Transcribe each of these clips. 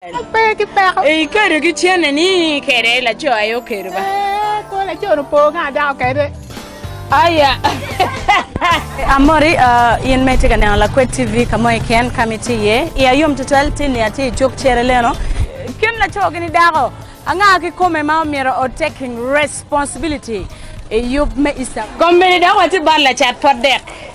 Pe ki peko. E ikedo ki cene ni kede laco aye okedo ba. Eh, ko laco no po nga dako kede. Aya. Amori uh, in ma itye ka neno Lakwed TV ka mo iken ka mi tye iye. I ayom tutwal tin ni atye i cuk cere leno. Kin laco gini dako, anga ki kome ma omyero o taking responsibility i yub me Isa? Kombeni dok watye bot lacat pot dek.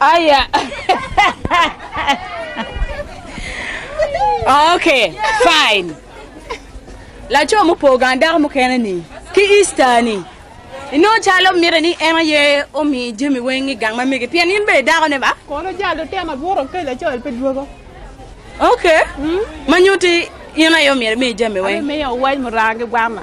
Aya. ok, fine. Laco mupo gang dako mukene ni, ki Easter ni, inongo calo mite ni en aye omi jami weng i gang ma mege, pien in bene dako ne ba? Kono jal lutino aburu okel lacol pe dwogo. Ok, mm. manyuti in aye omyero imi jami weng. Ami miyo owac muranga gi gwama.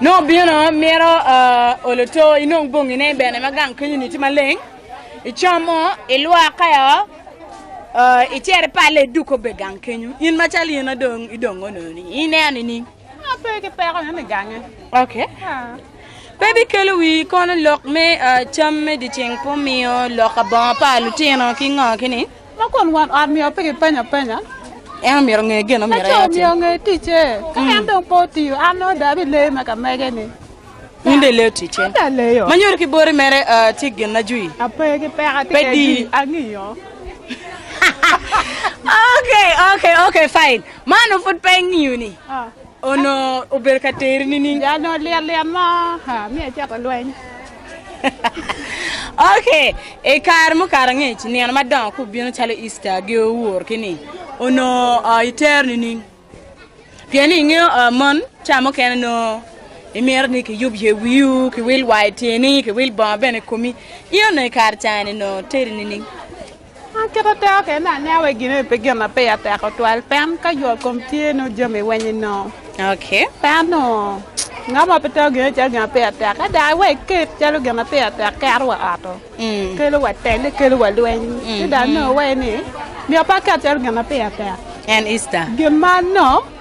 Nongo obino mito olo to, inong bongine bene ma gang kenyoni tye maleng, icomo, ilwaka o, iceri palle iduk obe gang kenyo. In macalo in adong idong ononi, ineno nining? Ape ki peko me gange. Okay. Pe bikelo wi kono lok me cam me dyeceng pe omiyo lok ka bongo pa lutino ki ngo kini? Ma kun won ot myero pigi peny apenya. En omyero onge gin omyero eyati. Laco omyero onge ticce. Ka mm. en dong po otiyo, an no da bi leyo me ka mege ni. Yin de leyo ticce. An da leyo. Ma nyodo ki bori mere uh, ti gin na jui. Ape ki peka ti ke jui. Angiyo. okay, okay, okay, fine. Mano pud pe ngiyo ni. Ah. Onongo obedo ka teri nining? Ya nongo lyet lyet mo, ha, mi acito lweny. Ok, i kare mukato angec, nino madongo ka obino calo Easter gi owur ki ni, onongo ah, itero nining? Pien ni ingeyo ah, mon ca mukene nongo imito ni kiyub ye wiu, kiwil wa i tyeni, kiwil bongo bene i komi. In onongo i kare cani nongo iteri nining? Aketo teko kene ni ane awe gin eni pe gin ma peya tek tutwal pien ka ywok kom tye nongo jami weny inongo. Okay. Pien onongo ngat ma pe teko gin eni calo gin ma peya tek ada awe eket calo gin ma peya tek kero wa oto Mm. kelo wa telle kelo wa lweny ci da nongo awe ni myero pe aket calo gin ma peya tek En Easter. gin ma nongo